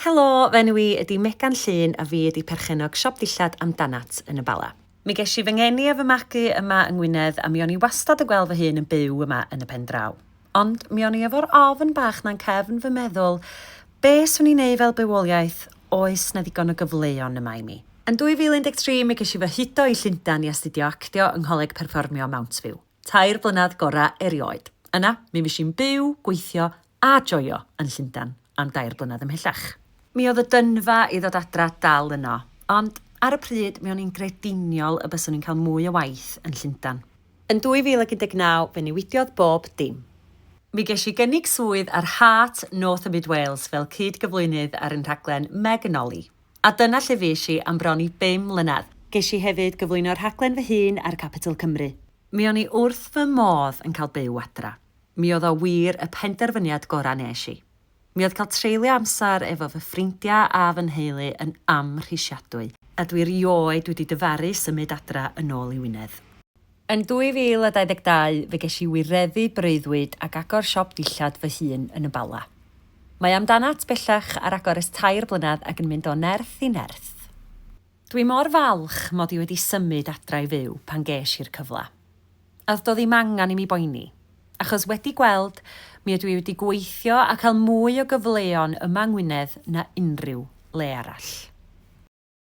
Helo, fy enw i ydi Megan Llun a fi ydi perchennog siop ddillad Amdanat yn y Bala. Mi gesh i fy ngeni a fy magu yma yng Ngwynedd a mi o'n i wastad yn gweld fy hun yn byw yma yn y pendraw. Ond mi o'n i efo'r ofn bach 'na'n cefn fy meddwl, be' swn i'n neu' fel bywoliaeth, oes 'na ddigon o gyfleon yma i mi? Yn 2013 mi gesh i fy hudo i Llundan i astudio actio yng Ngholeg Perfformio Mountview. Tair blynedd gorau erioed. Yna, mi fues i'n byw, gweithio a joio yn Llundain am dair blynedd ymhellach. Mi oedd y dynfa i ddod adra dal yno, ond ar y pryd mi o'n i'n grediniol y byswn i'n cael mwy o waith yn Llundain. Yn 2019, fe newidiodd bob dim. Mi ges i gynnig swydd ar Heart North a Mid Wales fel cyd-gyflwynydd ar ein rhaglen Meg and Ollie. A dyna lle fues i am bron i bum mlynedd. Ges i hefyd gyflwyno rhaglen fy hun ar Capital Cymru. Mi o'n i wrth fy modd yn cael byw adra. Mi oedd o wir y penderfyniad gorau nes i. Mi oedd cael treulio amser efo fy ffrindiau a fy nheulu yn amhrisiadwy. A dwi rioed wedi dyfaru symud adra yn ôl i Wynedd. Yn 2022 fe ges i wireddu breuddwyd ag agor siop dillad fy hun yn y Bala. Mae amdanat bellach ar agor ers tair blynedd ac yn mynd o nerth i nerth. Dwi mor falch mod i wedi symud adra i fyw pan ges i'r cyfle. A do'dd ddim angan i mi boeni. Achos wedi gweld, mi ydw i wedi gweithio a cael mwy o gyfleon yma yng Ngwynedd na unrhyw le arall.